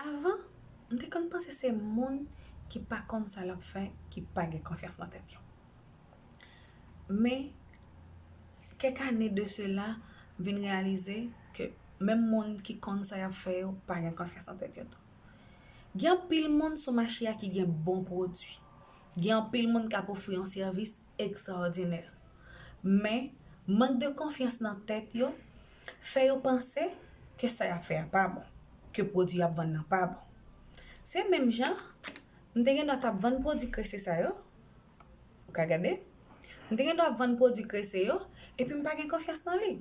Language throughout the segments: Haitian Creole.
Avan, m te konn panse se moun ki pa konn sa lap fè ki pa gen konfyans nan tèt yo. Men, kèk ane de sela, m vin reyalize ke menm moun ki konn sa yap fè yo pa gen konfyans nan tèt yo tou. Gen anpil moun sou mache a ki gen bon pwodui. Gen anpil moun kap ofri yon sèvis ekzòdinè. Men, mank de konfyans nan tèt yo fè yo panse ke sa y ap fè a pa bon, ke pwodui y ap vann nan pa bon. Se menm jan m te gendwa t ap vann pwodui krese sa yo, ou ka gade, m te gendwa ap vann pwodui krese yo epi m pa gen konfyans nan li.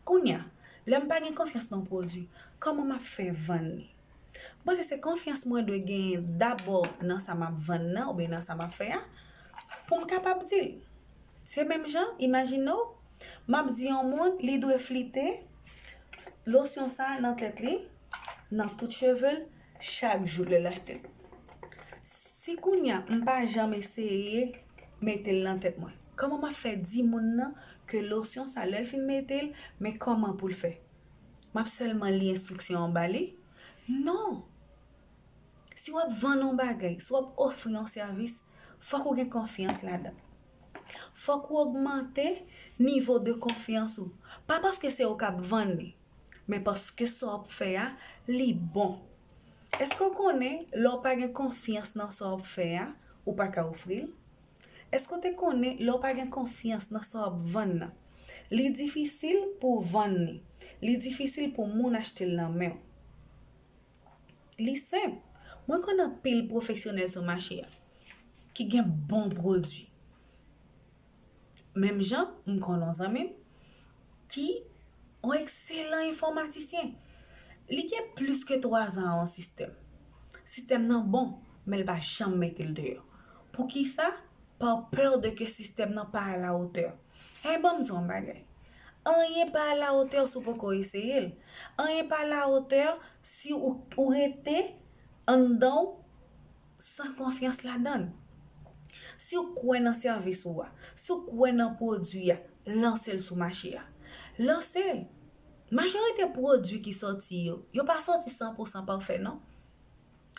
Kounye a, lè m pa gen konfyans nan pwodui, kòman m ap fè vann li? M panse se konfyans mwen dwe genyen dabò nan sa m ap vann nan oubyen nan sa m ap fè a pou m kapab di l. Se menm jan, imajine w, m ap di yon moun li dwe flite losyon sa nan tèt li, nan tout cheve l chak jou lè l achte l. Si kounye a m pa janm eseye mete l nan tèt mwen, kòman m ap fè di moun nan ke losyon sa lè l fin mete l, men kòman pou l fè? M ap sèlman li enstriksyon an ba li? Non! Si w ap vann yon bagay, si w ap ofri yon sèvis, fòk ou gen konfyans ladan l. Fòk ou ogmante nivo de konfyans ou. Pa paske se ou k ap vann li, men paske sa w ap fè a, li bon. Èske w konnen lè w pa gen konfyans nan sa w ap fè a, ou pa ka ofri l? Èske w te konnen lè w pa gen konfyans nan sa w ap vann nan, li difisil pou w vann li, li difisil pou moun achte l nan men w? Li senp, mwen konn anpil pwofesyonèl sou mache a ki gen bon pwodui. Menm jan, m konn yon zanmi m, ki yon ekselan enfòmatisyen. Li gen plis ke 3 zan an yon sistèm. Sistèm nan bon, men l pa janm mete l deyò. Poukisa? Par peur de ke sistèm nan pa alawotè. Hey, ban m di w yon bagay. Anyen pa alawotè si w poko eseye l. Anyen pa alawotè si ou rete anndan w. san konfyans ladan l. Si w kwè nan sèvis ou a, si w kwè nan pwodui a, lanse l sou mache a. Lanse l! Majorite pwodui ki sòti yo, yo pa sòti san pou san pafè non.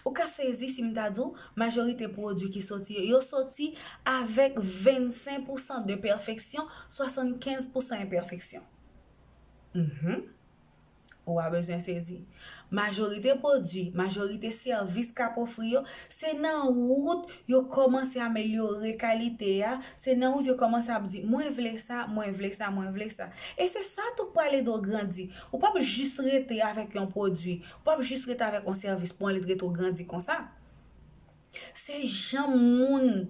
Ou ka sezi si m ta di w, majorite pwodui ki sòti yo, yo sòti avèk 25 pou san de pèfeksyon, 75 pou san enpèfeksyon. Mph. Ou a bezwen sezi. Majorite pwodui, majorite sèvis k ap ofri yo, se nan wout yo kòmanse amelyore kalite a, se nan wout yo kòmanse ap di mwen vle sa, mwen vle sa, mwen vle sa. E se sa tou k pral ede w grandi. Ou p ap jis rete avèk yon pwodui, ou p ap jis rete avèk yon sèvis pou anlè trete w grandi konsa. Se jan moun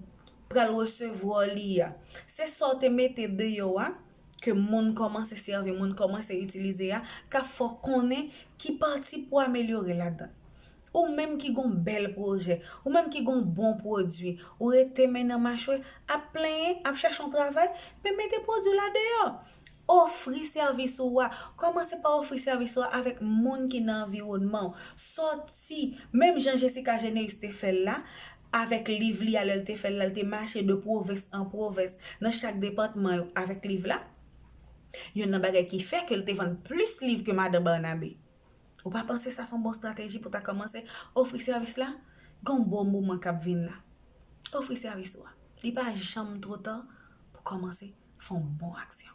pral resevwa w li a. Se sa w te mete deyò a, ke moun kòmanse sèvi, moun kòmanse itilize a, k ap fè w konnen ki pati pou amelyore ladan. Ou menm ki gon bèl pwojè, ou menm ki gon bon pwodui, ou rete men nan machwe, ap plenyen, ap chèche yon travay, men mete pwodui w la deyò. Ofri sèvis ou a. Kòmanse pa ofri sèvis ou a avèk moun ki nan anviwònman ou. Sòti, menm jan Jessica Généus te fè l la, avèk liv li a lè l te fè l la, l te mache de pwovens an pwovens nan chak depatman yo avèk liv la. Youn nan bagay ki fè ke l te vann plis liv ke Madan Barnabe. Ou pa panse sa s on bon estrateji pou ta kòmanse ofri sèvis la? Gen yon bon moman k ap vin la. Ofri sèvis ou a. Li pa janm twò ta pou kòmanse fè yon bon aksyon.